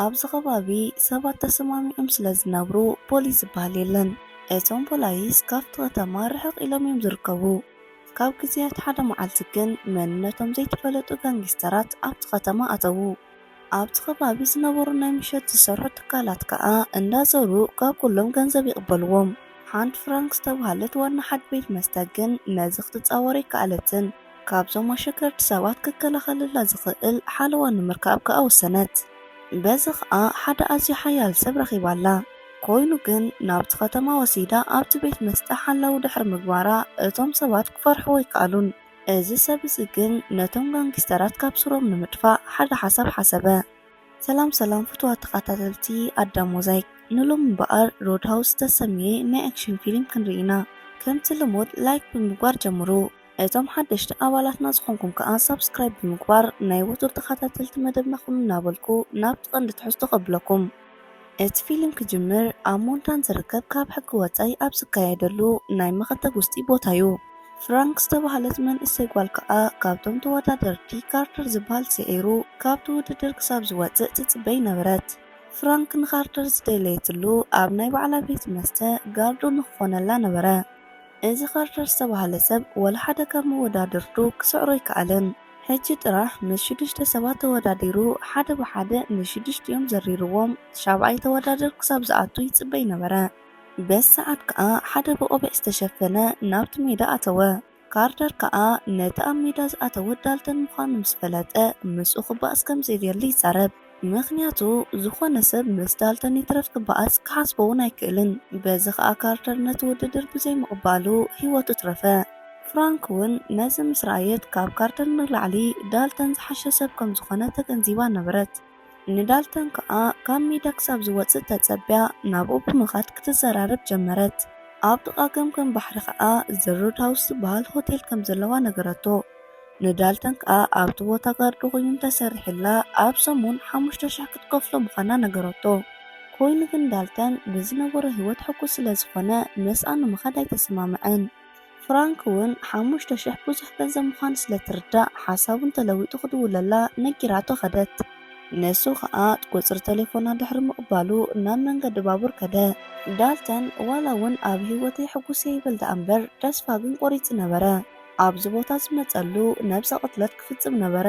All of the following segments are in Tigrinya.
ኣብዚ ከባቢ ሰባት ተሰማሚዖም ስለ ዝነብሩ ፖሊስ ዝበሃል የለን። እቶም ፖላይስ ካብቲ ከተማ ርሕቕ ኢሎም እዮም ዝርከቡ። ካብ ግዜያት ሓደ መዓልቲ ግን መንነቶም ዘይተፈለጡ ጋንጊስተራት ኣብቲ ከተማ ኣተዉ። ኣብቲ ከባቢ ዝነበሩ ናይ ምሸት ዝሰርሑ ትካላት ከኣ እንዳዘሩ ካብ ኩሎም ገንዘብ ይቕበልዎም። ሓንቲ ፍራንክ ዝተብሃለት ዋና ሓድ ቤት መስተ ግን ነዚ ክትጻወር ኣይከኣለትን። ካብዞም ኣሸገርቲ ሰባት ክከላኸለላ ዝኽእል ሓለዋ ንምርካብ ከኣ ወሰነት። በዚ ከኣ ሓደ ኣዝዩ ሓያል ሰብ ረኺባ'ላ። ኮይኑ ግን ናብቲ ከተማ ወሲዳ ኣብቲ ቤት መስተ ሓላዊ ድሕሪ ምግባራ እቶም ሰባት ክፈርሕዎ ኣይከኣሉን። እዚ ሰብ እዚ ግን ነቶም ጋንጊስተራት ካብ ሱሮም ንምጥፋእ ሓደ ሓሳብ ሓሰበ። ሰላም ሰላም ፍቱዋት ተኻታተልቲ ኣዳም ሞዛይክ ንሎሚ እምበኣር ሮድሃውስ ዝተሰምየ ናይ ኣክሽን ፊሊም ክንሪኢ ኢና ከምቲ ልሙድ ላይክ ብምግባር ጀምሩ። እቶም ሓደሽቲ ኣባላትና ዝኾንኩም ከኣ ሳብስክራይብ ብምግባር ናይ ወትሩ ተኻታተልቲ መደብና ኩኑ እናበልኩ ናብቲ ቀንዲ ትሕዝቶ ከብለኩም። እቲ ፊልም ክጅምር ኣብ ሞንታን ዝርከብ ካብ ሕጊ ወጻኢ ኣብ ዝካየደሉ ናይ መኸተ ጉስጢ ቦታ'ዩ። ፍራንክ ዝተባህለት መንእሰይ ጓል ከኣ ካብቶም ተወዳደርቲ ካርተር ዝበሃል ስዒሩ ካብቲ ውድድር ክሳብ ዝወጽእ ትጽበይ ነበረት። ፍራንክ ንካርተር ዝደለየትሉ ኣብ ናይ ባዕላ ቤት መስተ ጋርዶ ንክኾነላ ነበረ። እዚ ካርተር ዝተባህለ ሰብ ወላ ሓደ ካብ መወዳድርቱ ክስዕሮ ኣይከኣለን። ሕጂ ጥራሕ ምስ ሽዱሽተ ሰባት ተወዳዲሩ ሓደ ብሓደ ንሽዱሽቲኦም ዘሪርዎም። ሻብዓይ ተወዳድር ክሳብ ዝኣቱ ይጽበ ኣይነበረ። በቲ ሰዓት ከኣ ሓደ ብቆቢዕ ዝተሸፈነ ናብቲ ሜዳ ኣተወ። ካርተር ከኣ ነቲ ኣብ ሜዳ ዝኣተወ ዳልተን ምዃኑ ምስ ፈለጠ ምስኡ ክበኣስ ከም ዘይደሊ ይዛረብ። ምኽንያቱ ዝኾነ ሰብ ምስ ዳልተን ይትረፍ ክበኣስ ክሓስቦ'ውን ኣይክእልን። በዚ ከኣ ካርተር ነቲ ውድድር ብዘይ ምቕባሉ ህይወቱ ትረፈ። ፍራንክ'ውን ነዚ ምስ ረኣየት ካብ ካርተር ንላዕሊ ዳልተን ዝሓሸ ሰብ ከም ዝኾነ ተገንዚባ ነበረት። ንዳልተን ከኣ ካብ ሜዳ ክሳብ ዝወጽእ ተጸብያ ናብኡ ብምኻድ ክትዘራረብ ጀመረት። ኣብ ጥቓ ገምገም ባሕሪ ከኣ ዘ ሮድሃውስ ዝበሃል ሆቴል ከም ዘለዋ ነገረቶ። ንዳልተን ከኣ ኣብቲ ቦታ ጋርድ ኮይኑ እንተሰሪሑላ ኣብ ሰሙን ሓሙሽተ ሽሕ ክትከፍሎ ምዃና ነገረቶ። ኮይኑ ግን ዳልተን ብዝነበሮ ህይወት ሕጉስ ስለ ዝኾነ ምስኣ ንምኻድ ኣይተሰማምዐን። ፍራንክ እውን ሓሙሽተ ሽሕ ብዙሕ ገንዘብ ምዃኑ ስለ እትርዳእ ሓሳቡ እንተለዊጡ ክድውለላ ነጊራቶ ከደት። ንሱ ከኣ ቁጽሪ ተሌፎና ድሕሪ ምቕባሉ ናብ መንገዲ ባቡር ከደ። ዳልተን ዋላ እውን ኣብ ህይወተይ ሕጉስ'የ ይበል ደኣ'ምበር ተስፋ ግን ቆሪጹ ነበረ። ኣብዚ ቦታ ዝመጸሉ ነብሰ ቅትለት ክፍጽም ነበረ።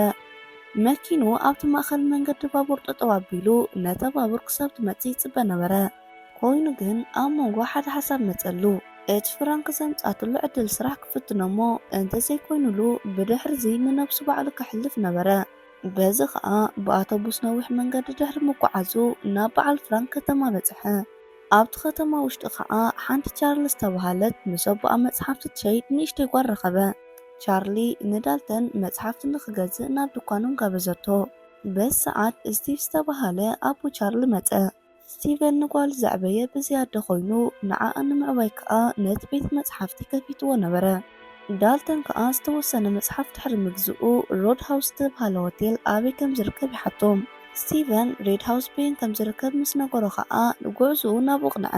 መኪኑ ኣብቲ ማእከል መንገዲ ባቡር ጠጠው ኣቢሉ ነታ ባቡር ክሳብ ትመጽእ ይጽበ ነበረ። ኮይኑ ግን ኣብ መንጎ ሓደ ሓሳብ መጸሉ። እቲ ፍራንክ ዘምጽኣትሉ ዕድል ስራሕ ክፍትኖ'ሞ እንተ ዘይኮይኑሉ ብድሕሪ'ዚ ንነብሱ ባዕሉ ከሕልፍ ነበረ። በዚ ከኣ ብኣቶቡስ ነዊሕ መንገዲ ድሕሪ ምጉዓዙ ናብ በዓል ፍራንክ ከተማ በጽሐ። ኣብቲ ኸተማ ውሽጢ ኸኣ ሓንቲ ቻርሊ ዝተባህለት ምስ ኣቦኣ መጽሓፍቲ ትሸይጥ ንእሽተይ ጓል ረኸበ። ቻርሊ ንዳልተን መጽሓፍቲ ንኽገዝእ ናብ ድኳኖም ጋበዘቶ። በዚ ሰዓት ስቲቭ ዝተባህለ ኣቦ ቻርሊ መጸ። ስቲቨን ንጓሉ ዘዕበየ ብዘይ ኣደ ኾይኑ፣ ንዓኣ ንምዕባይ ከኣ ነቲ ቤት መጽሓፍቲ ከፊትዎ ነበረ። ዳልተን ከኣ ዝተወሰነ መጽሓፍ ድሕሪ ምግዝኡ፣ ሮድ ሃውስ ዝተብሃለ ሆቴል ኣበይ ከም ዝርከብ ይሓቶ። ስቲቨን፣ ሬድ ሃውስ በየን ከም ዝርከብ ምስ ነገሮ ከኣ ንጉዕዞኡ ናብኡ ኣቕንዐ።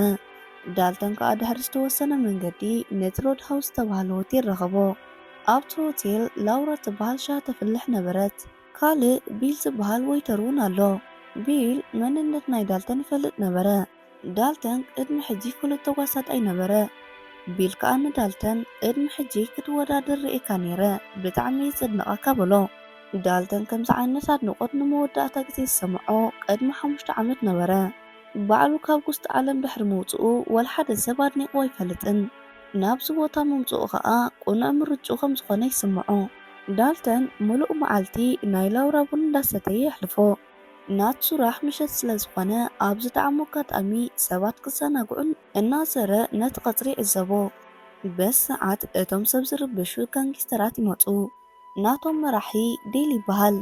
ዳልተን ከኣ ድሕሪ ዝተወሰነ መንገዲ ነቲ ሮድ ሃውስ ዝተብሃለ ሆቴል ረኸቦ። ኣብቲ ሆቴል ላውራ እትብሃል ሻሂ ተፍልሕ ነበረት። ካልእ ቢል ዝብሃል ወይተር'ውን ኣሎ። ቢል መንነት ናይ ዳልተን ይፈልጥ ነበረ። ዳልተን ቅድሚ ሕጂ ፍሉጥ ተጓሳጣይ ነበረ ቢል ከኣ ንዳልተን ቅድሚ ሕጂ ክትወዳደር ርኤካ ኔረ ብጣዕሚ እየ ዘድንቀካ በሎ። ዳልተን ከምዚ ዓይነት ኣድንቆት ንመወዳእታ ግዜ ዝሰመዖ ቅድሚ ሓሙሽተ ዓመት ነበረ። ባዕሉ ካብ ጉስጢ ዓለም ድሕሪ ምውጽኡ ወልሓደ ሰብ ኣድኒቅዎ ኣይፈልጥን። ናብዚ ቦታ ምምጽኡ ከኣ ቅኑዕ ምርጭኡ ከም ዝኮነ ይስምዖ። ዳልተን ምሉእ መዓልቲ ናይ ላውራ ቡን እንዳሰተየ የሕልፎ። ናቱ ስራሕ ምሸት ስለ ዝኾነ ኣብ ዝጠዓሞ ኣጋጣሚ ሰባት ክዘናግዑን እናዘረ ነቲ ቀጽሪ ይዕዘቦ። በዚ ሰዓት እቶም ሰብ ዝርብሹ ጋንጊስተራት ይመጹ። ናቶም መራሒ ዴል ይበሃል።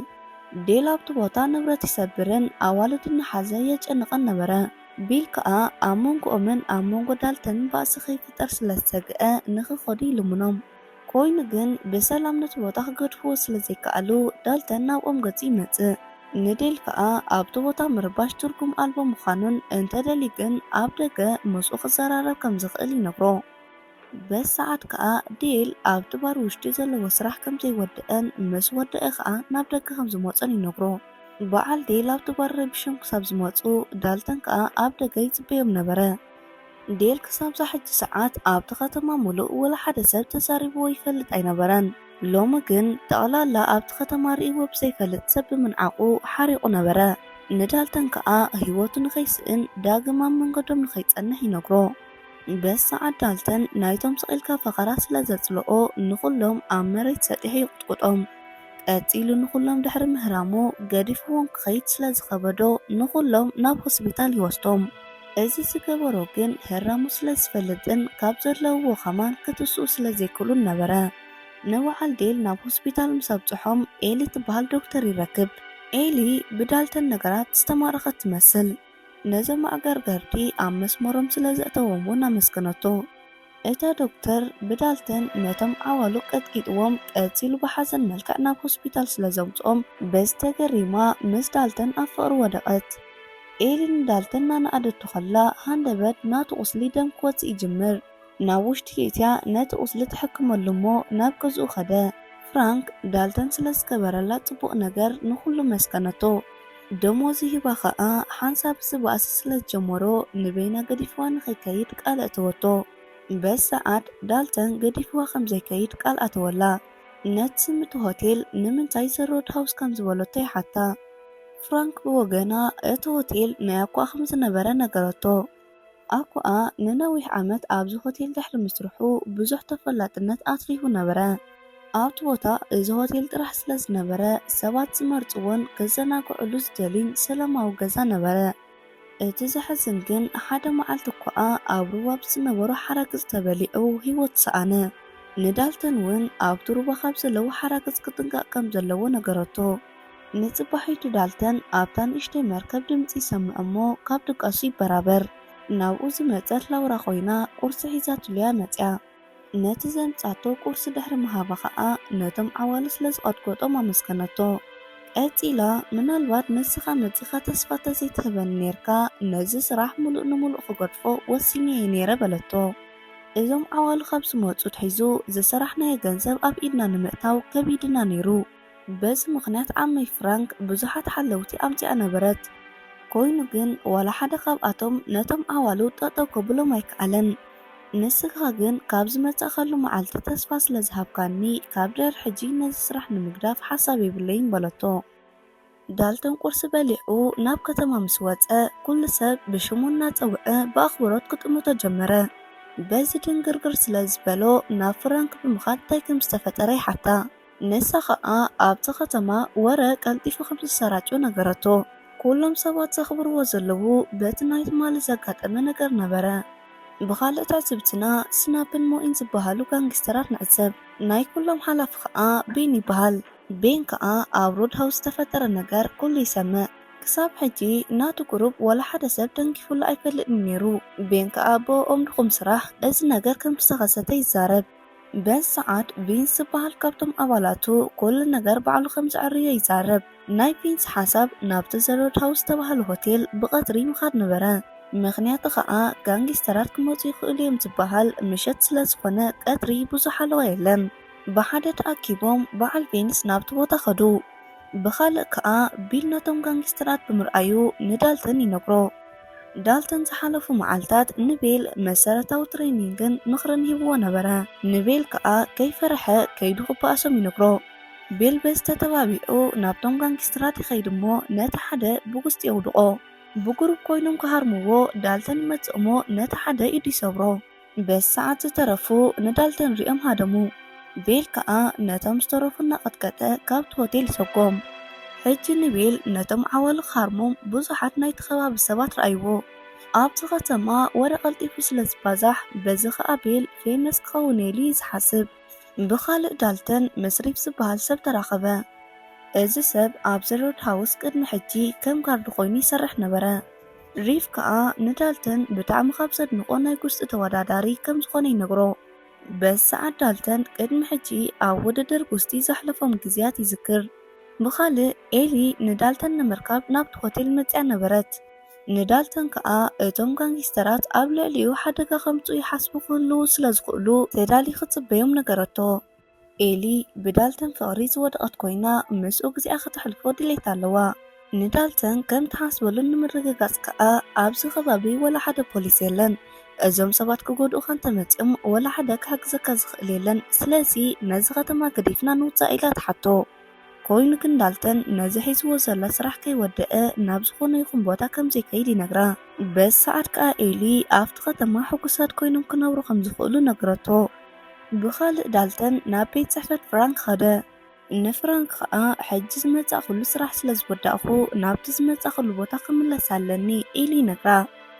ዴል ኣብቲ ቦታ ንብረት ይሰብርን ኣዋልዱ እናሓዘ የጨንቐን ነበረ። ቢል ከኣ ኣብ መንጎኦምን ኣብ መንጎ ዳልተንን ባእሲ ከይፍጠር ስለ ዝሰግኣ ንኽኸዱ ይልምኖም። ኮይኑ ግን ብሰላም ነቲ ቦታ ክገድፍዎ ስለ ዘይከኣሉ፣ ዳልተን ናብኦም ገጹ ይመጽእ። ንዴል ከኣ ኣብቲ ቦታ ምርባሽ ትርጉም ኣልቦ ምዃኑን እንተ ደልዩ ግን ኣብ ደገ ምስኡ ክዘራረብ ከም ዝኽእል ይነግሮ። በዚ ሰዓት ከኣ ዴል ኣብቲ ባር ውሽጢ ዘለዎ ስራሕ ከም ዘይወደኣን ምስ ወደኣ ከኣ ናብ ደገ ከም ዝመጾን ይነግሮ። በዓል ዴል ኣብቲ ባር ረቢሾም ክሳብ ዝመጹ፣ ዳልተን ከኣ ኣብ ደገ ይጽበዮም ነበረ። ዴል ክሳብ'ዛ ሕጂ ሰዓት ኣብ'ቲ ከተማ ምሉእ ወላ ሓደ ሰብ ተዛሪብዎ ይፈልጥ ኣይነበረን። ሎሚ ግን ጠቕላላ ኣብ'ቲ ከተማ ርእይዎ ብዘይፈልጥ ሰብ ብምንዓቑ ሓሪቑ ነበረ። ንዳልተን ከኣ ህይወቱ ንኸይስእን ዳግም ኣብ መንገዶም ንኸይጸንሕ ይነግሮ። በስ ሰዓት ዳልተን ናይ'ቶም ስቕ ኢልካ ፈኸራ ስለ ዘጽልኦ ንኹሎም ኣብ መሬት ሰጢሑ ይቑጥቁጦም። ቀጺሉ ንኹሎም ድሕሪ ምህራሙ ገዲፍዎም ክኸይድ ስለ ዝኸበዶ ንኹሎም ናብ ሆስቢታል ይወስዶም። እዚ ዝገበሮ ግን ህራሙ ስለ ዝፈልጥን ካብ ዘለውዎ ከማን ክትስኡ ስለ ዘይክእሉን ነበረ። ንበዓል ዴል ናብ ሆስቢታል ምስ ኣብጽሖም ኤሊ ትበሃል ዶክተር ይረክብ። ኤሊ ብዳልተን ነገራት ዝተማረኸት ትመስል። ነዞም ኣዕገርገርቲ ኣብ መስመሮም ስለ ዘእተዎም ውን ኣመስገነቶ። እታ ዶክተር ብዳልተን ነቶም ዓዋሉ ቀጥቂጥዎም ቀጺሉ ብሓዘን መልክዕ ናብ ሆስፒታል ስለ ዘምጽኦም በዚ ተገሪማ ምስ ዳልተን ኣብ ፍቕሪ ወደቐት። ኤሊ ንዳልተን እናነኣደቶ ከላ ሃንደበት ናቱ ቁስሊ ደም ክወጽእ ይጅምር። ናብ ውሽጢ የእትያ ነቲ ቁስሊ ትሕክመሉ እሞ ናብ ገዝኡ ከደ። ፍራንክ ዳልተን ስለ ዝገበረላ ጽቡቕ ነገር ንኹሉ መስገነቶ። ደሞዙ ሂባ ከኣ ሓንሳብ እዚ ባእሲ ስለ ዝጀመሮ ንበይና ገዲፍዋ ንኸይከይድ ቃል ኣእተወቶ። በዚ ሰዓት ዳልተን ገዲፍዋ ከም ዘይከይድ ቃል ኣተወላ። ነቲ ስም'ቲ ሆቴል ንምንታይ ዘ ሮድ ሃውስ ከም ዝበለቶ ይሓታ። ፍራንክ ብወገና እቲ ሆቴል ናይ ኣኳ ከም ዝነበረ ነገረቶ። ኣኮኣ ንነዊሕ ዓመት ኣብዚ ሆቴል ድሕሪ ምስርሑ ብዙሕ ተፈላጥነት ኣትሪፉ ነበረ። ኣብቲ ቦታ እዚ ሆቴል ጥራሕ ስለ ዝነበረ ሰባት ዝመርጽዎን ክዘናግዑሉ ዝደልዩን ሰላማዊ ገዛ ነበረ። እቲ ዘሕዝን ግን ሓደ መዓልቲ ኣኮኣ ኣብ ሩባ ብዝነበሮ ሓራግጽ ተበሊዑ ህይወቱ ሰኣነ። ንዳልተን እውን ኣብቲ ሩባ ካብ ዘለዉ ሓራግጽ ክጥንቀቕ ከም ዘለዎ ነገረቶ። ንጽባሒቱ ዳልተን ኣብታ ንእሽተይ መርከብ ድምጺ ይሰምዕ እሞ ካብ ድቃሱ ይበራበር። ናብኡ ዝመጸት ላውራ ኮይና ቁርሲ ሒዛትሉ'ያ መጺኣ። ነቲ ዘምጽኣቶ ቁርሲ ድሕሪ ምሃባ ከኣ ነቶም ዓዋሉ ስለ ዝቐጥቆጦም ኣመስገነቶ። ቀጺላ ምናልባት ንስኻ መጺኻ ተስፋ ተዘይትህበኒ ኔርካ ነዚ ስራሕ ምሉእ ንምሉእ ክገድፎ ወሲነ'የ ኔረ በለቶ። እዞም ዓዋሉ ካብ ዝመጹ ኣትሒዙ ዝሰራሕናዮ ገንዘብ ኣብ ኢድና ንምእታው ከቢድና ኔሩ። በዚ ምኽንያት ዓመይ ፍራንክ ብዙሓት ሓለውቲ ኣምጺኣ ነበረት። ኮይኑ ግን ዋላ ሓደ ካብኣቶም ነቶም ዓዋሉ ጠጠው ከብሎም ኣይከኣለን። ንስኻ ግን ካብ ዝመጻእካሉ መዓልቲ ተስፋ ስለ ዝሃብካኒ ካብ ድሕሪ ሕጂ ነዚ ስራሕ ንምግዳፍ ሓሳብ የብለይን በለቶ። ዳልተን ቁርሲ በሊዑ ናብ ከተማ ምስ ወጸ፣ ኩሉ ሰብ ብሽሙ እናጸውዐ ብኣኽብሮት ክጥምቶ ጀመረ። በዚ ድንግርግር ስለ ዝበሎ፣ ናብ ፍራንክ ብምኻድ እንታይ ከም ዝተፈጠረ ይሓታ። ንሳ ኸኣ ኣብቲ ከተማ ወረ ቀልጢፉ ከም ዝሰራጮ ነገረቶ። ኩሎም ሰባት ዘኽብርዎ ዘለዉ በቲ ናይ ትማሊ ዘጋጠመ ነገር ነበረ። ብኻልእ ትዕዝብትና ስናፕን ሞኢን ዝበሃሉ ጋንጊስተራት ንዕዘብ። ናይ ኩሎም ሓላፊ ኸኣ ቢን ይበሃል። ቤን ከኣ ኣብ ሮድሃውስ ዝተፈጠረ ነገር ኩሉ ይሰምዕ። ክሳብ ሕጂ ናቱ ቁሩብ ወላ ሓደ ሰብ ተንኪፉሉ ኣይፈልጥን ኔሩ። ቤን ከኣ ብኦኦም ድኹም ስራሕ እዚ ነገር ከም ዝተኸሰተ ይዛረብ። በዚ ሰዓት ቪንስ ዝበሃል ካብቶም ኣባላቱ ኩሉ ነገር ባዕሉ ከም ዘዐርዮ ይዛረብ። ናይ ቪንስ ሓሳብ ናብቲ ዘ ሮድሃውስ ዝተባህለ ሆቴል ብቐትሪ ምኻድ ነበረ። ምኽንያቱ ከኣ ጋንጊስተራት ክመጹ ይኽእሉ እዮም ዝበሃል ምሸት ስለ ዝኾነ ቀትሪ ብዙሕ ሓለዋ የለን። ብሓደ ተኣኪቦም በዓል ቬንስ ናብቲ ቦታ ከዱ። ብኻልእ ከኣ ቢል ነቶም ጋንጊስተራት ብምርኣዩ ንዳልተን ይነግሮ። ዳልተን ዝሓለፉ መዓልታት ንቤል መሰረታዊ ትሬኒንግን ምኽርን ሂብዎ ነበረ። ንቤል ከኣ ከይፈርሐ ከይዱ ክበኣሶም ይነግሮ። ቤል በዚ ተተባቢዑ ናብቶም ጋንጊስተራት ይኸይድ እሞ ነቲ ሓደ ብጉስጢ የውድቖ። ብጉሩብ ኮይኖም ክሃርምዎ ዳልተን ይመጽእሞ ነቲ ሓደ ኢዱ ይሰብሮ። በስ ሰዓት ዝተረፉ ነዳልተን ሪኦም ሃደሙ። ቤል ከኣ ነቶም ዝተረፉ እናቐጥቀጠ ካብቲ ሆቴል ሰጎም። ሕጂ ንቤል ነቶም ዓዋሉ ክሃርሞም ብዙሓት ናይቲ ከባቢ ሰባት ረኣይዎ። ኣብቲ ከተማ ወረ ቀልጢፉ ስለ ዝባዛሕ በዚ ከኣ ቤል ፌመስ ክኸውን'የ ኢሉ እዩ ዝሓስብ። ብኻልእ ዳልተን ምስ ሪፕ ዝበሃል ሰብ ተራኸበ። እዚ ሰብ ኣብዚ ሮድሃውስ ቅድሚ ሕጂ ከም ጋርድ ኮይኑ ይሰርሕ ነበረ። ሪፍ ከኣ ንዳልተን ብጣዕሚ ካብ ዘድንቖ ናይ ጉስጢ ተወዳዳሪ ከም ዝኾነ ይነግሮ። በዚ ሰዓት ዳልተን ቅድሚ ሕጂ ኣብ ውድድር ጉስጢ ዘሕለፎም ግዝያት ይዝክር። ብኻልእ ኤሊ ንዳልተን ንምርካብ ናብቲ ሆቴል መጺኣ ነበረት። ንዳልተን ከኣ እቶም ጋንጊስተራት ኣብ ልዕሊኡ ሓደጋ ከምጽኡ ይሓስቡ ክህልዉ ስለ ዝኽእሉ ተዳሊኺ ጽበዮም ነገረቶ። ኤሊ ብዳልተን ፍቕሪ ዝወደቐት ኰይና፣ ምስኡ ግዜኣ ኸተሕልፎ ድሌት ኣለዋ። ንዳልተን ከም እትሓስበሉ ንምርግጋጽ ከኣ፣ ኣብዚ ኸባቢ ዋላ ሓደ ፖሊስ የለን። እዞም ሰባት ኪጐድኡኻ እንተ መጺኦም፣ ዋላ ሓደ ኪሕግዘካ ዚኽእል የለን። ስለዚ፣ ነዚ ኸተማ ገዲፍና ንውጻእ ኢላ ትሓቶ። ኰይኑ ግን፣ ዳልተን ነዚ ሒዝዎ ዘሎ ስራሕ ከይወደኣ ናብ ዝዀነ ይኹን ቦታ ከም ዘይከይድ ይነግራ። በዚ ሰዓት ከኣ ኤሊ፣ ኣብቲ ኸተማ ሕጉሳት ኰይኖም ኪነብሩ ኸም ዚኽእሉ ነገረቶ። ብኻልእ ዳልተን ናብ ቤት ጽሕፈት ፍራንክ ኸደ። ንፍራንክ ኸኣ ሕጂ ዝመጻእኩሉ ስራሕ ስለ ዝወዳእኩ ናብቲ ዝመጻእኩሉ ቦታ ክምለስ ኣለኒ ኢሉ ይነግራ።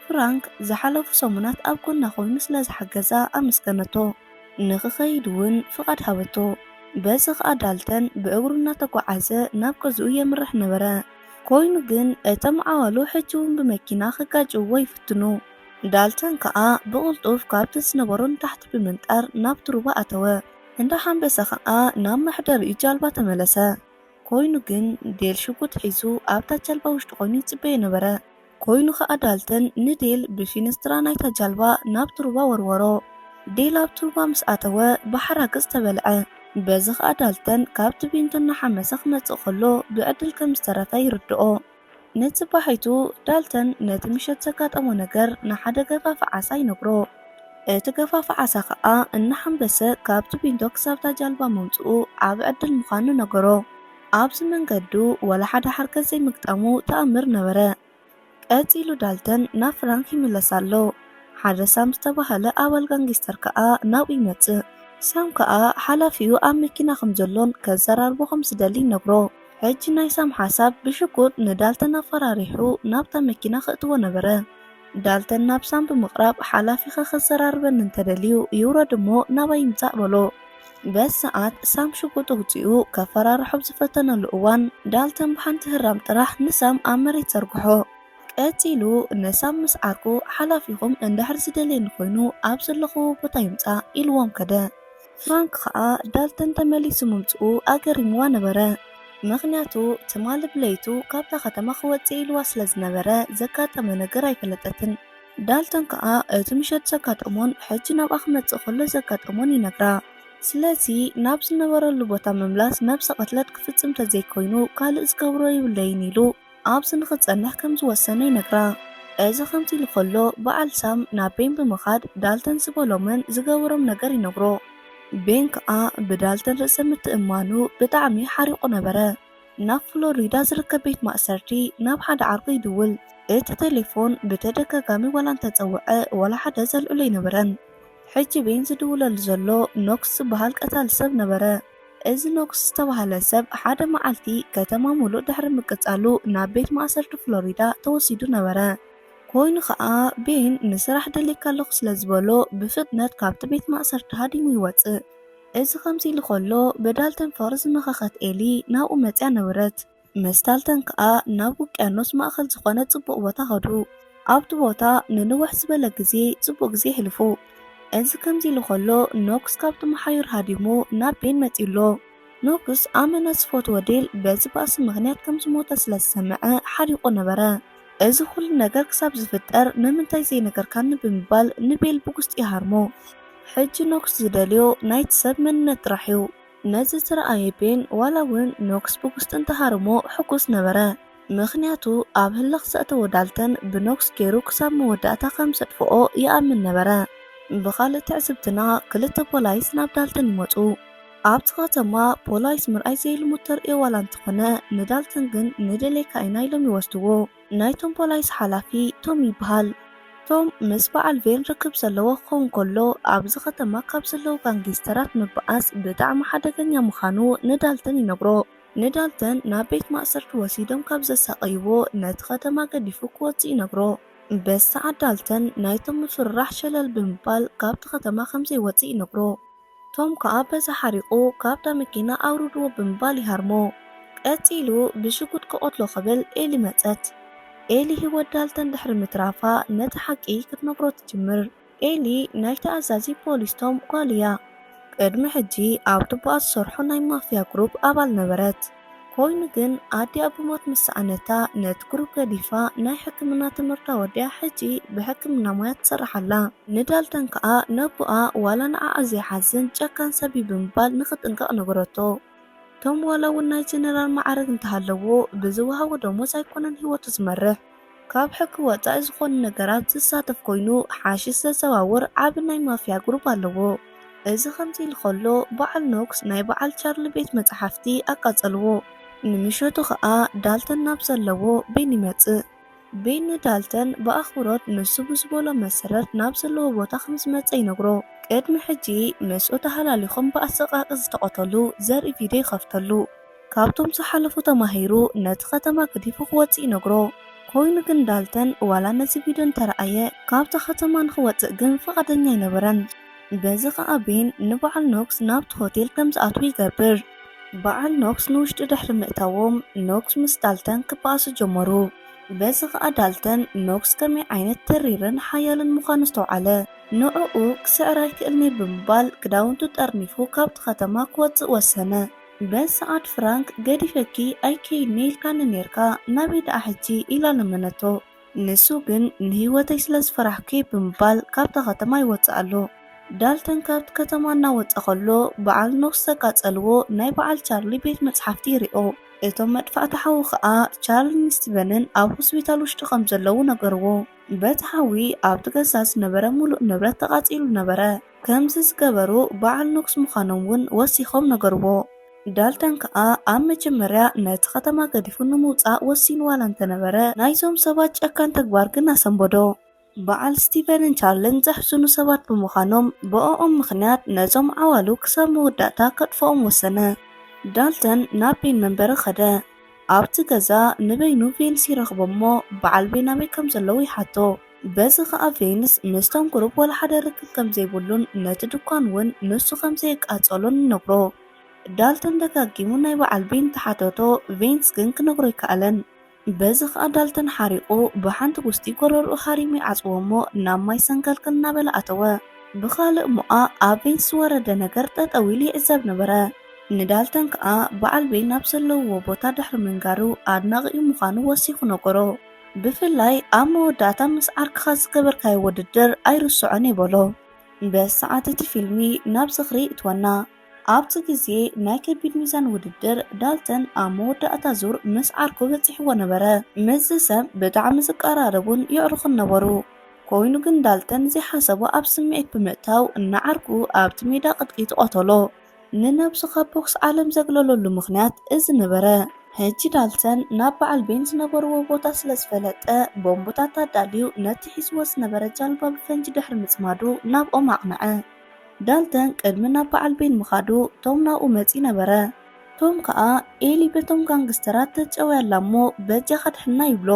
ፍራንክ ዝሓለፉ ሰሙናት ኣብ ጎና ኮይኑ ስለ ዝሓገዛ ኣመስገነቶ። ንኽኸይድ እውን ፍቓድ ሃበቶ። በዚ ኸኣ ዳልተን ብእግሩ እናተጓዓዘ ናብ ገዝኡ የምርሕ ነበረ። ኮይኑ ግን እቶም ዓዋሉ ሕጂ እውን ብመኪና ክጋጭውዎ ይፍትኑ። ዳልተን ከኣ ብቕልጡፍ ካብቲ ዝነበሮ ንታሕቲ ብምንጣር ናብቲ ሩባ ኣተወ። እንዳ ሓንበሰ ከኣ ናብ መሕደሪኡ ጃልባ ተመለሰ። ኮይኑ ግን ዴል ሽጉጥ ሒዙ ኣብታ ጃልባ ውሽጢ ኮይኑ ይጽበዮ ነበረ። ኮይኑ ከኣ ዳልተን ንዴል ብፊንስትራ ናይታ ጃልባ ናብቲ ሩባ ወርወሮ። ዴል ኣብቲ ሩባ ምስ ኣተወ ብሓራግጽ ተበልዐ። በዚ ከኣ ዳልተን ካብቲ ቪንቶ እናሓመሰ ክመጽእ ከሎ ብዕድል ከም ዝተረፈ ይርድኦ። ንጽባሒቱ ዳልተን ነቲ ምሸት ዘጋጠሞ ነገር ንሓደ ገፋፊ ዓሳ ይነግሮ። እቲ ገፋፊ ዓሳ ከኣ እናሓንበሰ ካብቲ ቢንቶ ክሳብ'ታ ጃልባ ምምጽኡ ዓቢ ዕድል ምዃኑ ነገሮ። ኣብዚ መንገዱ ዋላ ሓደ ሓርገጽ ዘይምግጣሙ ተኣምር ነበረ። ቀጺሉ ዳልተን ናብ ፍራንክ ይምለስ ኣሎ። ሓደ ሳም ዝተባህለ ኣባል ጋንጊስተር ከኣ ናብኡ ይመጽእ። ሳም ከኣ ሓላፊኡ ኣብ መኪና ከም ዘሎን ከዘራርቦ ከም ዝደሊን ይነግሮ። ሕጂ ናይ ሳም ሓሳብ ብሽጉጥ ንዳልተን ኣፈራሪሑ ናብታ መኪና ከእትዎ ነበረ። ዳልተን ናብ ሳም ብምቕራብ ሓላፊኺ ከዘራርበኒ እንተደልዩ ይውረድ እሞ ናባይ ይምጻእ በሎ። በዚ ሰዓት ሳም ሽጉጥ ኣውጺኡ ከፈራርሖ ኣብ ዝፈተነሉ እዋን ዳልተን ብሓንቲ ህራም ጥራሕ ንሳም ኣብ መሬት ዘርግሖ። ቀጺሉ ንሳም ምስ ዓርኩ ሓላፊኹም እንድሕር ዝደልየኒ ኮይኑ ኣብ ዘለኹዎ ቦታ ይምጻእ ኢልዎም ከደ። ፍራንክ ኸኣ ዳልተን ተመሊሱ ምምጽኡ ኣገሪምዋ ነበረ። ምኽንያቱ ትማሊ ብለይቱ ካብታ ከተማ ክወጽእ ኢልዋ ስለ ዝነበረ ዘጋጠመ ነገር ኣይፈለጠትን። ዳልተን ከኣ እቲ ምሸት ዘጋጠሞን ሕጂ ናብኣ ክመጽእ ከሎ ዘጋጠሞን ይነግራ። ስለዚ ናብ ዝነበረሉ ቦታ ምምላስ ነብሰ ቅትለት ክፍጽም ተዘይኮይኑ ካልእ ዝገብሮ የብለይን ኢሉ። ኣብዚ ንኽትጸንሕ ከም ዝወሰነ ይነግራ። እዚ ከምዚ ኢሉ ከሎ ብዓል ሳም ናብ ቤን ብምኻድ ዳልተን ዝበሎምን ዝገበሮም ነገር ይነግሮ። ቤን ከኣ ብዳልተን ርእሰ ምትእምማኑ ብጣዕሚ ሓሪቑ ነበረ። ናብ ፍሎሪዳ ዝርከብ ቤት ማእሰርቲ ናብ ሓደ ዓርኩ ይድውል። እቲ ተሌፎን ብተደጋጋሚ ዋላ እንተጸውዐ ዋላ ሓደ ዘልዕሎ ኣይነበረን። ሕጂ ቤን ዝድውለሉ ዘሎ ኖክስ ዝበሃል ቀታሊ ሰብ ነበረ። እዚ ኖክስ ዝተባህለ ሰብ ሓደ መዓልቲ ከተማ ምሉእ ድሕሪ ምቅጻሉ ናብ ቤት ማእሰርቲ ፍሎሪዳ ተወሲዱ ነበረ። ኮይኑ ኸኣ ቤን ንስራሕ ደልየካ ኣለኹ ስለ ዝበሎ ብፍጥነት ካብቲ ቤት ማእሰርቲ ሃዲሙ ይወጽእ። እዚ ከምዚ ኢሉ ከሎ ብዳልተን ፎር ዝመኸኸት ኤሊ ናብኡ መጺኣ ነበረት። ምስ ታልተን ከኣ ናብ ውቅያኖስ ማእከል ዝኾነ ጽቡቕ ቦታ ኸዱ። ኣብቲ ቦታ ንንውሕ ዝበለ ግዜ ጽቡቕ ግዜ የሕልፉ። እዚ ከምዚ ኢሉ ኸሎ ኖክስ ካብቲ መሓዩር ሃዲሙ ናብ ቤን መጺኡ ኣሎ። ኖክስ ኣመና ዝፈትዎ ዴል በዚ ባእሲ ምኽንያት ከም ዝሞተ ስለ ዝሰምዐ ሓሪቑ ነበረ። እዚ ኹሉ ነገር ክሳብ ዝፍጠር ንምንታይ ዘይነገርካኒ ብምባል ንቤል ብጉስጢ ይሃርሞ። ሕጂ ኖክስ ዝደልዮ ናይቲ ሰብ መንነት ጥራሕ እዩ። ነዚ ዝረኣየ ቤን፣ ዋላ እውን ኖክስ ብጉስጢ እንተሃረሞ ሕጉስ ነበረ፣ ምኽንያቱ ኣብ ህልኽ ዘእተዎ ዳልተን ብኖክስ ገይሩ ክሳብ መወዳእታ ከም ዘጥፍኦ ይኣምን ነበረ። ብኻልእ ትዕዝብትና፣ ክልተ ፖላይስ ናብ ዳልተን ይመጹ። ኣብቲ ከተማ ፖላይስ ምርኣይ ዘይልሙድ ተርእዮ ዋላ እንተኾነ፣ ንዳልተን ግን ንደልየካ ኢና ኢሎም ይወስድዎ። ናይቶም ፖላይስ ሓላፊ ቶም ይበሃል። ቶም ምስ በዓል ቬን ርክብ ዘለዎ ክኸውን ከሎ፣ ኣብዚ ከተማ ካብ ዘለዉ ጋንጊስተራት ምብኣስ ብጣዕሚ ሓደገኛ ምኻኑ ንዳልተን ይነግሮ። ንዳልተን ናብ ቤት ማእሰርቲ ወሲዶም ካብ ዘሳቐይዎ ነቲ ከተማ ገዲፉ ክወጽእ ይነግሮ። በዚ ሰዓት ዳልተን ናይ ቶም ምፍርራሕ ሸለል ብምባል ካብቲ ከተማ ከምዘይወጽእ ይነግሮ። ቶም ከኣ በዚ ሓሪቑ ካብታ መኪና ኣውርድዎ ብምባል ይሃርሞ። ቀጺሉ ብሽጉጥ ክቐትሎ ክብል ኤሊ መጸት። ኤሊ ህይወት ዳልተን ድሕሪ ምትራፋ ነቲ ሓቂ ክትነግሮ ትጅምር። ኤሊ ናይቲ ኣዛዚ ፖሊስ ቶም ጓል እያ። ቅድሚ ሕጂ ኣብ ቱቦኣ ዝሰርሖ ናይ ማፍያ ግሩፕ ኣባል ነበረት። ኮይኑ ግን ኣዲኣ ብሞት ምስ ሰኣነታ ነቲ ግሩፕ ገዲፋ ናይ ሕክምና ትምህርታ ወዲኣ ሕጂ ብሕክምና ሞያ ትሰርሕ ኣላ። ንዳልተን ከኣ ነቦኣ ዋላ ንዓኣ ዘይሓዝን ጨካን ሰብ እዩ ብምባል ንኽጥንቀቕ ነገረቶ። ቶም ዋላ እውን ናይ ጀነራል መዓርግ እንተሃለዎ ብዝወሃቦ ደሞዝ ኣይኮነን ህይወቱ ዝመርሕ። ካብ ሕጊ ወጻኢ ዝኾኑ ነገራት ዝሳተፍ ኮይኑ ሓሽሽ ዘዘዋውር ዓቢ ናይ ማፍያ ጉሩብ ኣለዎ። እዚ ከምዚ ኢሉ ከሎ በዓል ኖክስ ናይ በዓል ቻርሊ ቤት መጻሕፍቲ ኣቃጸልዎ። ንምሸቱ ከኣ ዳልተን ናብ ዘለዎ ቤን ይመጽእ። ቤን ንዳልተን ብኣኽብሮት ንሱ ብዝበሎ መሰረት ናብ ዘለዎ ቦታ ከም ዝመጸ ይነግሮ። ቅድሚ ሕጂ ምስኡ ተሃላሊኾም ብኣሰቃቂ ዝተቐተሉ ዘርኢ ቪድዮ ይኸፍተሉ። ካብቶም ዝሓለፉ ተማሂሩ ነቲ ከተማ ገዲፉ ክወጽእ ይነግሮ። ኮይኑ ግን ዳልተን ዋላ ነዚ ቪድዮ እንተረኣየ ካብታ ከተማ ንኽወጽእ ግን ፍቓደኛ ኣይነበረን። በዚ ከኣ ቤን ንበዓል ኖክስ ናብቲ ሆቴል ከም ዝኣትዉ ይገብር። በዓል ኖክስ ንውሽጢ ድሕሪ ምእታዎም ኖክስ ምስ ዳልተን ክበኣሱ ጀመሩ። በዚ ከኣ ዳልተን ኖክስ ከመይ ዓይነት ተሪርን ሓያልን ምዃኑ ኣስተውዓለ። ንዕኡ ክስዕር ኣይክእልን'የ ብምባል ክዳውንቱ ጠርኒፉ ካብቲ ከተማ ክወጽእ ወሰነ። በል ሰዓድ ፍራንክ ገዲፈኪ ኣይከይድን'የ ኢልካኒ ኔርካ ናበይ ደኣ ሕጂ ኢላ ለመነቶ። ንሱ ግን ንህይወተይ ስለ ዝፈራሕኩ'የ ብምባል ካብታ ከተማ ይወጽእ ኣሎ። ዳልተን ካብቲ ከተማ እናወጸ ከሎ በዓል ኖክስ ዘቃጸልዎ ናይ በዓል ቻርሊ ቤት መጽሓፍቲ ይሪኦ። እቶም መድፋእቲ ሓዊ ከኣ ቻርልን ስቲቨንን ኣብ ሆስፒታል ውሽጢ ከም ዘለዉ ነገርዎ። በቲ ሓዊ ኣብቲ ገዛ ዝነበረ ምሉእ ንብረት ተቃጺሉ ነበረ። ከምዚ ዝገበሩ በዓል ንጉስ ምዃኖም እውን ወሲኾም ነገርዎ። ዳልተን ከኣ ኣብ መጀመርያ ነቲ ከተማ ገዲፉ ንምውጻእ ወሲኑ ዋላ እንተነበረ፣ ናይዞም ሰባት ጨካን ተግባር ግን ኣሰንበዶ። በዓል ስቲቨንን ቻርልን ዘሕዝኑ ሰባት ብምዃኖም፣ ብእኦም ምኽንያት ነዞም ዓዋሉ ክሳብ መወዳእታ ከጥፍኦም ወሰነ። ዳልተን ናብ ቤን መንበሪ ከደ። ኣብቲ ገዛ ንበይኑ ቬንስ ይረኽቦ እሞ በዓል ቤን ኣበይ ከም ዘለዉ ይሓቶ። በዚ ኸኣ ቬንስ ምስቶም ቁሩብ ዋላ ሓደ ርክብ ከም ዘይብሉን ነቲ ድኳን እውን ንሱ ከም ዘየቃጸሎን ይነግሮ። ዳልተን ደጋጊሙ ናይ በዓል ቢን ተሓተቶ፣ ቬንስ ግን ክነግሮ ኣይከኣለን። በዚ ኸኣ ዳልተን ሓሪቑ ብሓንቲ ጉስጢ ጎረርኡ ሃሪሙ ይዓጽዎ እሞ ናብ ማይ ሰንከልከል እናበለ ኣተወ። ብኻልእ ሞኣ ኣብ ቬንስ ዝወረደ ነገር ጠጠው ኢሉ ይዕዘብ ነበረ። ንዳልተን ከኣ በዓል ቤን ኣብ ዘለውዎ ቦታ ድሕሪ ምንጋሩ ኣድናቒኡ ምዃኑ ወሲኹ ነገሮ። ብፍላይ ኣብ መወዳእታ ምስ ዓርክኻ ዝገበርካዮ ውድድር ኣይርስዖን እየ በሎ። በዚ ሰዓት እቲ ፊልሚ ናብ ዝኽሪ ይእትወና። ኣብቲ ግዜ ናይ ከቢድ ሚዛን ውድድር ዳልተን ኣብ መወዳእታ ዙር ምስ ዓርኩ በጺሕዎ ነበረ። ምስዚ ሰብ ብጣዕሚ ዝቀራረቡን የዕሩኽን ነበሩ። ኮይኑ ግን ዳልተን ዘይሓሰቦ ኣብ ስምዒት ብምእታው ንዓርኩ ኣብቲ ሜዳ ቅጥቂጥ ቐተሎ። ንነብሱ ካብ ቦክስ ዓለም ዘግለለሉ ምኽንያት እዚ ነበረ። ሕጂ ዳልተን ናብ በዓል ቤን ዝነበርዎ ቦታ ስለ ዝፈለጠ፣ ቦምብታት ኣዳልዩ ነቲ ሒዝዎ ዝነበረ ጃልባ ብፈንጂ ድሕሪ ምጽማዱ ናብኦም ኣቕንዐ። ዳልተን ቅድሚ ናብ በዓል ቤን ምኻዱ ቶም ናብኡ መጺኡ ነበረ። ቶም ከኣ ኤሊ በቶም ጋንግስተራት ተጨውያ ኣላ'ሞ በጃኻ ኣድሕና ይብሎ።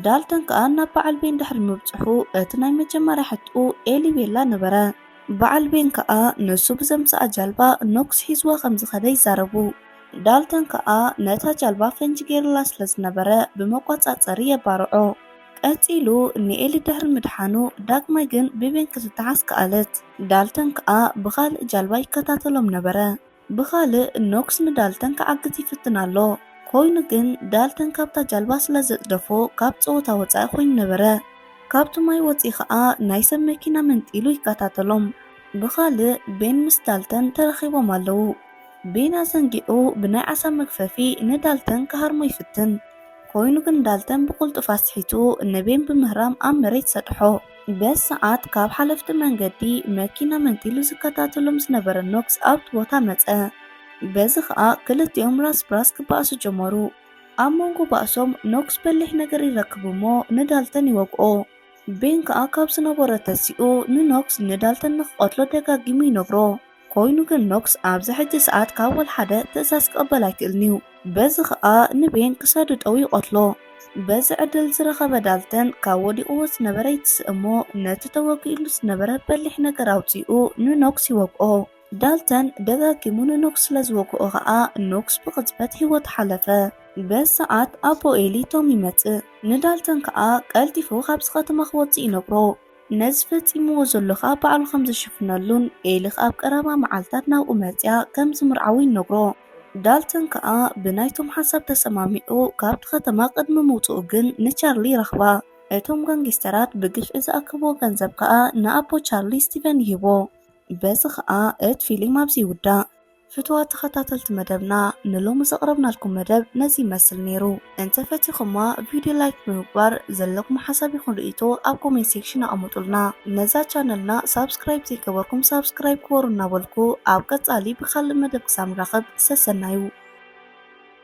ዳልተን ከኣ ናብ በዓል ቤን ድሕሪ ምብጽሑ እቲ ናይ መጀመርያ ሕትኡ ኤሊ ቤላ ነበረ። በዓል ቤን ከኣ ንሱ ብዘምጽኣ ጃልባ ኖክስ ሒዝዋ ከም ዝኸደ ይዛረቡ። ዳልተን ከኣ ነታ ጃልባ ፈንጂ ገይሩላ ስለ ዝነበረ ብመቆጻጸሪ የባርዖ። ቀጺሉ ንኤሊ ድሕሪ ምድሓኑ ዳግማይ ግን ብቤን ክትተሓዝ ከኣለት። ዳልተን ከኣ ብኻልእ ጃልባ ይከታተሎም ነበረ። ብኻልእ ኖክስ ንዳልተን ክዓግት ይፍትን ኣሎ፣ ኰይኑ ግን ዳልተን ካብታ ጃልባ ስለ ዘጽደፎ ካብ ጸወታ ወጻኢ ኰይኑ ነበረ። ካብቲ ማይ ወጺኡ ኸኣ ናይ ሰብ መኪና መንጢሉ ይከታተሎም። ብኻልእ ቤን ምስ ዳልተን ተራኺቦም ኣለዉ። ቤን ኣዘንጊዑ ብናይ ዓሳ መግፈፊ ንዳልተን ክሃርሞ ይፍትን፣ ኰይኑ ግን ዳልተን ብቕልጡፍ ኣስሒቱ ንቤን ብምህራም ኣብ መሬት ሰጥሖ። በዚ ሰዓት ካብ ሓለፍቲ መንገዲ መኪና መንጢሉ ዝከታተሎም ዝነበረ ኖክስ ኣብቲ ቦታ መጸ። በዚ ኸኣ ክልቲኦም ራስ ብራስ ክበኣሱ ጀመሩ። ኣብ መንጎ ባእሶም ኖክስ በሊሕ ነገር ይረክብ እሞ ንዳልተን ይወግኦ። ቤን ከኣ ካብ ዝነበሮ ተሲኡ ንኖክስ ንዳልተን ንክቐትሎ ደጋጊሙ ይነግሮ። ኮይኑ ግን ኖክስ ኣብዚ ሕጂ ሰዓት ካብ ወልሓደ ትእዛዝ ክቕበል ኣይክእልን'ዩ። በዚ ከኣ ንቤን ክሳዱ ጠው ይቐትሎ። በዚ ዕድል ዝረኸበ ዳልተን ካብ ወዲቕዎ ዝነበረ ይትስእ'ሞ ነቲ ተወጊኡሉ ዝነበረ በሊሕ ነገር ኣውጺኡ ንኖክስ ይወግኦ። ዳልተን ደጋጊሙ ንኖክስ ስለ ዝወግኦ ከኣ ኖክስ ብቕጽበት ህይወቱ ሓለፈ። በዚ ሰዓት ኣቦ ኤሊ ቶም ይመጽእ። ንዳልተን ከኣ ቀልጢፉ ካብዚ ከተማ ክወጽእ ይነግሮ። ነዚ ፈጺምዎ ዘሎ ኸኣ ባዕሉ ኸም ዝሽፍነሉን ኤሊ ኸኣ ኣብ ቀረባ መዓልትታት ናብኡ መጺኣ ከም ዝምርዓዎ ይነግሮ። ዳልተን ከኣ ብናይቶም ሓሳብ ተሰማሚዑ ካብቲ ኸተማ ቕድሚ ምውጽኡ ግን ንቻርሊ ይረኽባ። እቶም ጋንጊስተራት ብግፍዒ ዝኣከብዎ ገንዘብ ከኣ ንኣቦ ቻርሊ ስቲቨን ይህቦ። በዚ ኸኣ እቲ ፊሊም ኣብዚ ይውዳእ። ፍትዋት ተኸታተልቲ መደብና ንሎሚ ዘቕረብናልኩም መደብ ነዚ ይመስል ነይሩ። እንተፈቲኹማ ቪድዮ ላይክ ብምግባር ዘለኩም ሓሳብ ይኹን ርእይቶ ኣብ ኮሜንት ሴክሽን ኣቐምጡልና። ነዛ ቻነልና ሳብስክራይብ ዘይገበርኩም ሳብስክራይብ ግበሩ እናበልኩ ኣብ ቀጻሊ ብኻልእ መደብ ክሳብ ንራኸብ ሰሰናዩ።